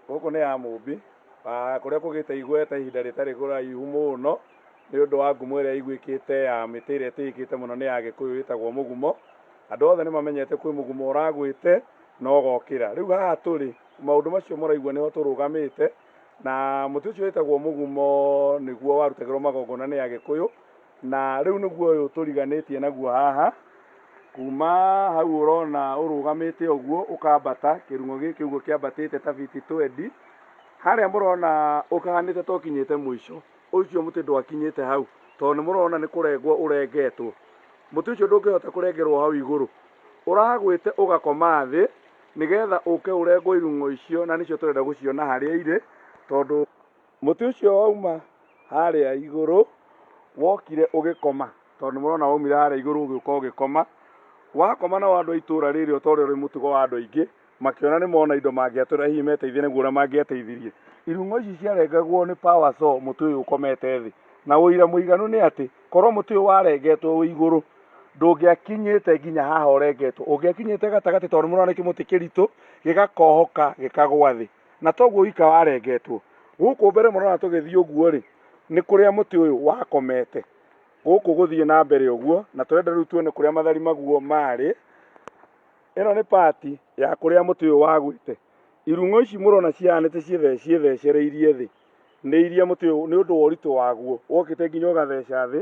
Gũkũ nĩ ya mũmbi ah, kũrĩa kũgĩte igweta ihinda rĩtarĩ kũraihu mũno nĩ ũndũ wa ngumo ĩrĩa ĩiguĩkĩte ya mĩtĩ ĩrĩa ĩtĩĩkĩte mũno nĩ ya gĩkũyũ ĩtagwo mũgumo andũ othe nĩ mamenyete kwĩ mũgumo ũragwĩte na ũgokĩra rĩu haha tũrĩ maũndũ macio mũraigua nĩho tũrũgamĩte na mũtĩ ũcio wĩtagwo mũgumo nĩguo warutagĩrwo magongona nĩ agĩkũyũ Na rĩu nĩguo ũyũ tũriganĩtie naguo haha, kuma hau ũrona ũrũgamĩte ũguo ũkambata, kĩrung'o gĩkĩ ũguo kĩambatĩte ta biti twendi, harĩa mũrona ũkahanĩte ta ũkinyĩte mũico, ũcio mũtĩ ndwakinyĩte hau, tondũ nĩ mũrona nĩ kũrengwo ũrengetwo. Mũtĩ ũcio ndũngĩhota kũrengerwo hau igũrũ, ũragwĩte ũgakoma thĩ, nĩgetha ũke ũrengwo irung'o icio, na nĩcio tũrenda gũciona harĩa irĩ, tondũ... mũtĩ ũcio wauma harĩa igũrũ wokire ũgĩkoma tondũ mũrona waumire harĩa igũrũ ũgĩũka ũgĩkoma wakoma na andũ a itũra rĩrĩ ũtorĩa ũrĩ mũtugo wa andũ aingĩ makĩona nĩ mona indo mangĩatũra hihi meteithie naguo ũrĩa mangĩateithirie irung'o ici ciarengagwo nĩ power so mũtĩ ũyũ ũkomete thĩ na ũira mũiganu nĩ atĩ korwo mũtĩ ũyũ warengetwo wĩ igũrũ ndũngĩakinyĩte nginya haha ũrengetwo ũngĩakinyĩte gatagatĩ tondũ nĩmũrona nĩ kĩmũtĩ kĩritũ gĩgakohoka gĩkagwa thĩ. na toguo wika warengetwo gũkũ mbere mũrona tũgĩthiĩ ũguo rĩ nĩ kũrĩa mũtĩ ũyũ wakomete gũkũ gũthiĩ na mbere ũguo na tũrenda rĩu tuone kũrĩa mathari maguo marĩ ĩno nĩ pati ya kũrĩa mũtĩ ũyũ wagwĩte irung'o ici mũrona cihanĩte ciĩthecereirie thĩ nĩ iria mũtĩ ũyũ nĩ ũndũ wa ũritũ waguo wokĩte nginya ũgatheca thĩ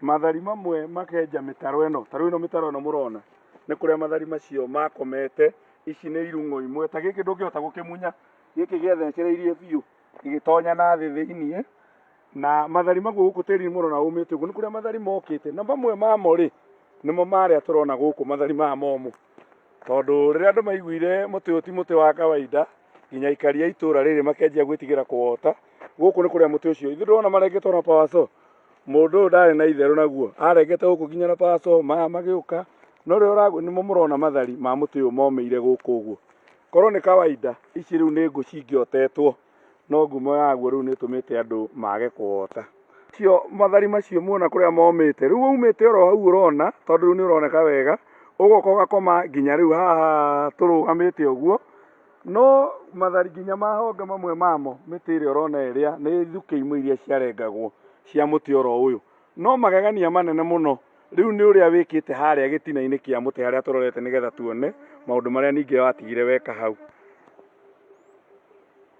mathari mamwe makenja mĩtaro ĩno tarĩu ĩno mĩtaro ĩno mũrona nĩ kũrĩa mathari macio makomete ici nĩ irung'o imwe ta gĩkĩ ndũngĩhota gũkĩmunya gĩkĩ gĩathecereirie biũ gĩgĩtonya na thĩ thĩinĩ na mathari maguo gũkũ tĩri mũrona umĩte ũguo nĩ kũrĩa mathari mokĩte na mamwe mamo rĩ nĩmo marĩa tũrona gũkũ mathari maya momũ tondũ rĩrĩa andũ maiguire mũtĩ ũyũ ti mũtĩ wa kawaida nginya aikari a itũra rĩrĩ makenjia gwĩtigĩra kũwota gũkũ nĩ kũrĩa mũtĩ ũcio ithuĩ ndĩrona marengetwo na pawaco mũndũ ũyũ ndarĩ na itherũ naguo arengete gũkũ nginya na pawaco maya magĩũka no rĩo ũragu nĩmo mũrona mathari ma mũtĩ ũyũ momĩire gũkũ ũguo korwo nĩ kawaida ici rĩu nĩ ngũ cingĩotetwo no ngumo yaguo rĩu nĩ ĩtũmĩte andũ mage kũwota. Cio mathari macio muona kũrĩa momĩte, rĩu waumĩte oro hau ũrona, tondũ rĩu nĩ ũroneka wega, ũgoka ũgakoma nginya rĩu haha tũrũgamĩte ũguo, no mathari nginya ma honge mamwe mamo, mĩtĩ ĩrĩa ũrona ĩrĩa, nĩ thukĩ imwe iria ciarengagwo cia mũtĩ oro ũyũ, no magegania manene mũno. rĩu nĩ ũrĩa wĩkĩte harĩa gĩtina-inĩ kĩa mũtĩ harĩa tũrorete nĩgetha tuone maũndũ marĩa ningĩ watigire weka hau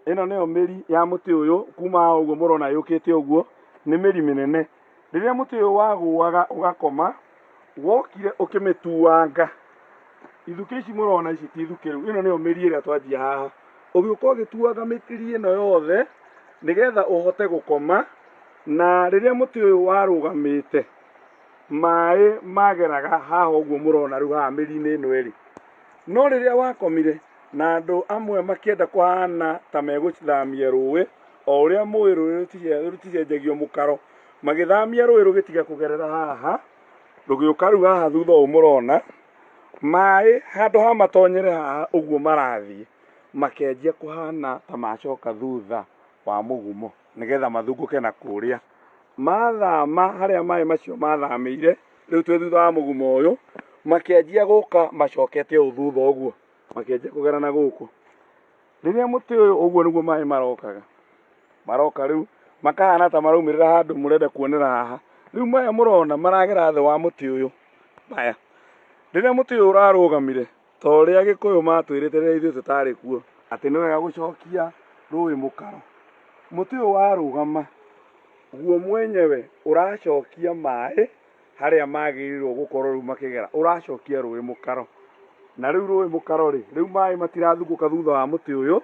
ĩno nĩyo mĩri ya mũtĩ ũyũ kuma ũguo mũrona yũkĩte ũguo nĩ mĩri mĩnene rĩrĩa mũtĩ ũyũ wagũaga ũgakoma wokire ũkĩmĩtuanga ithuke ici mũrona ici ti ithuke rĩu ĩno nĩyo mĩri ĩrĩa twanjia haha ũgĩũka ũgĩtuaga mĩri ĩno yothe nĩgetha ũhote gũkoma na rĩrĩa mũtĩ ũyũ warũgamĩte maĩ mageraga haha ũguo mũrona rĩu haha mĩri-inĩ ĩno ĩrĩ no rĩrĩa wakomire na andũ amwe makĩenda kũhana ta megũthamia rũĩ o ũrĩa mũĩ rũĩ rũtice- rũticenjagio mũkaro magĩthamia rũĩ rũgĩtiga kũgerera haha rũgĩũka rĩu haha thutha ũũ mũrona maĩ handũ ha matonyere haha ũguo marathiĩ makenjia kũhana ta macoka thutha wa mũgumo nĩgetha mathungũke na kũrĩa mathama harĩa maĩ macio mathamĩire rĩu twĩ thutha wa mũguma ũyũ makĩanjia gũka macokete ũũ thutha ũguo makĩanjia kũgera na gũkũ rĩrĩa mũtĩ ũyũ ũguo nĩguo maĩ marokaga maroka rĩu makahana ta maraumĩrĩra handũ mũrenda kuonera haha rĩu maya mũrona maragera thĩ wa mũtĩ ũyũ maya rĩrĩa mũtĩ ũyũ ũrarũgamire ta ũrĩa agĩkũyũ matwĩrĩte rĩrĩa ithuĩ tũtarĩ kuo atĩ nĩ wega gũcokia rũĩ mũkaro mũtĩ ũyũ warũgama guo mwenyewe ũracokia maĩ harĩa magĩrĩirwo gũkorwo rĩu makĩgera ũracokia rũĩ mũkaro na rĩu rũĩ mũkaro rĩ rĩu maĩ matirathugũka thutha wa mũtĩ ũyũ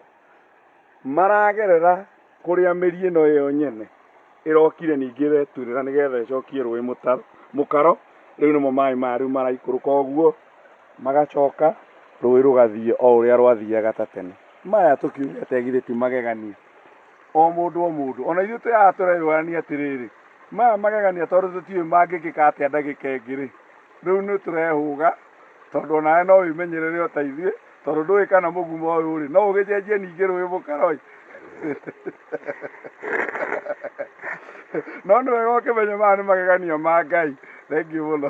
maragerera kũrĩa mĩri ĩno ĩyo nyene ĩrokire ningĩ ĩreturĩra nĩgetha ĩcokie rũĩ mũtaro mũkaro rĩu nĩmo maĩ maya rĩu maraikũrũka ũguo magacoka rũĩ rũgathiĩ o ũrĩa rwathiaga ta tene maya tũkiuga tegithĩ ti magegania o mũndũ o mũndũ ona ithuĩ tũyaga tũreyũrania atĩrĩrĩ maya magegania tondũ tũtiũĩ mangĩkĩka atĩa ndagĩka ĩngĩ rĩ rĩu nĩ tũrehũga tondũ onawe no wĩmenyerere o ta ithuĩ tondũ ndũĩ kana mũgumo ũyũ rĩ no ũgĩcenjie ningĩ rũĩ mũkaroi no nĩ wega ũkĩmenye maya nĩ magegania ma ngai thengiũ mũno